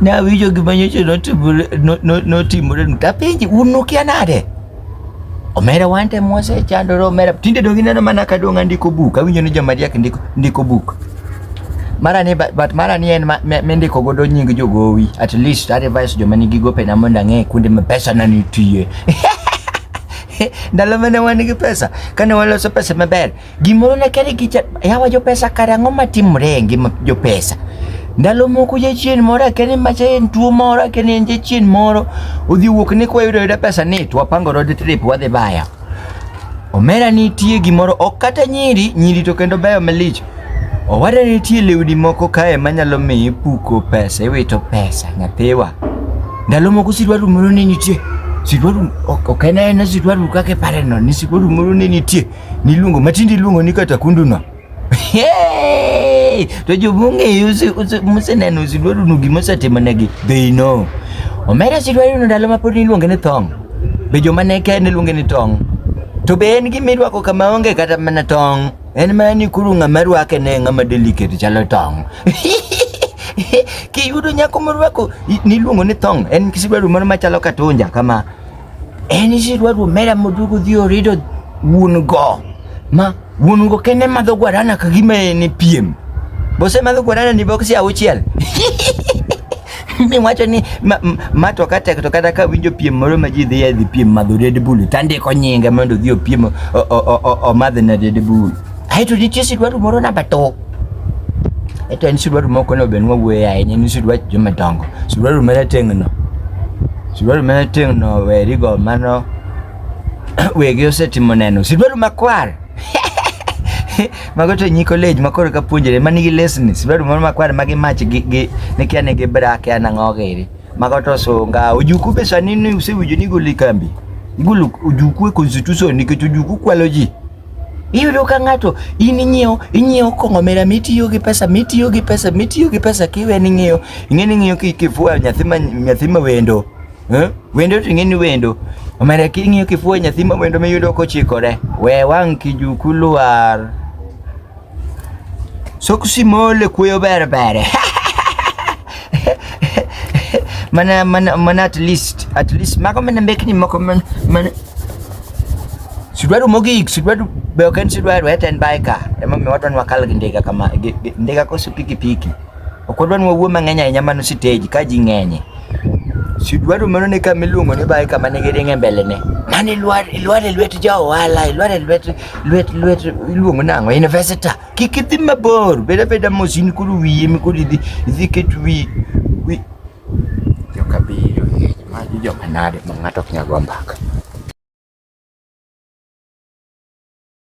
nawinjo gima nyocha notimore nu tapenji un nukia nade omera wante mwasechandore omera tinde donge ineno mana ka dong' andiko buk awinjo ni jomariek ndiko, ndiko buk mara ni but mara ni en mendiko godo nying jogowi at least advice joma nigi gopena mondo ang'e kuonde ma pesa na nitie ndalo mane wan gi pesa kane waloso pesa maber Gimoro ne kere kicha, yawa jopesa kare ang'o matimore e ngima jopesa? Ndalo moko jachien moro akene macha en tuo moro akene en jachien moro odhi wuok ni kwayudo yudo pesa ni to wapango road trip wadhi baya. Omera nitie gimoro ok kata nyiri, nyiri to kendo beyo malich. Owada nitie lewni moko kae manyalo miyi puko pesa, iwito pesa nyathiwa. Ndalo moko sirwaru moro ne nitie, sirwaru ok en aena sirwaru kaka ipareno, ni sirwaru moro ne nitie Niluongo matindi iluongo ni kata kunduna. Hey! To jobung'e museneno usidwaruno gima osetimonegi. They know. Omera sidwaruno ndalo ma pod niluonge ni thong'. Be joma ne kende luonge ni tong'. To be en gima irwako kama onge kata mana tong'. En mana ni kuru ng'ama rwake ne ng'ama delicate chalo tong'. Kiyudo nyako morwako niluongo ni thong'. En sidwaru moro machalo katunja kama. En isi dwa dwa mera modugo dhi orido wuon go. Ma wuon go kene madho guarana ka gima en e piem. Bose madho guarana ni boksi auchiel. Ni wacho ni ma, ma- ma to kata to kata ka winjo piem moro ma ji dhi e dhi piem madho Red Bull tandiko nyinge mondo odhi opiem o- o- o- o- omadh na Red Bull. Ae to nitie sidwadu moro namba tok. Eto en sidwadu moko ne obenwa wuoye ahinya ni sidwach joma dongo. Sidwadu mane teng'no. Sidwadu mane teng'no werigo mano wegi osetimo neno. Sidwadu makwar. mago to nyi college ma koro ka puonjore ma nigi lesni sidwadu moro makwar ma gi mach gi gi ne kia ne gi bra kia na ng'o giri mago to sunga ojuku be sani ni usewinjo ni goli kambi igolo ojuku e constitution nikech ojuku kwalo ji Iyudo ka ng'ato in inyiewo inyiewo kong'o mera mitiyo gi pesa mitiyo gi pesa mitiyo gi pesa kiwe ni ng'iyo ing'e ni ng'iyo kifua nyathi ma nyathi ma wendo eh? wendo to ing'e ni wendo omera king'iyo kifua nyathi ma wendo miyudo kochikore we wang' kijuku lwar Soksi mole kuyo bere bere. mana mana mana at least at least mago mana mbekni moko mana mana sidwaro mogik sidwaro be ok en sidwaro hata en bika ema mi wadwa wakal gi ndiga kama ndiga koso piki piki ok wadwa wawuo mang'eny ahinya mano siteji ka ji ng'enye sidwaro mano ne kama iluongo ni bika mane giringe mbele ne mane ilwar ilwar e lwet ja ohala ilwar e lwet lwet lwet iluongo nang'o investor kik idhi mabor bed abeda mos in koro wiyi emi koro idhi idhi ket wi wi jokabiro hej magi joma nade ma ng'ato ok nyal go mbaka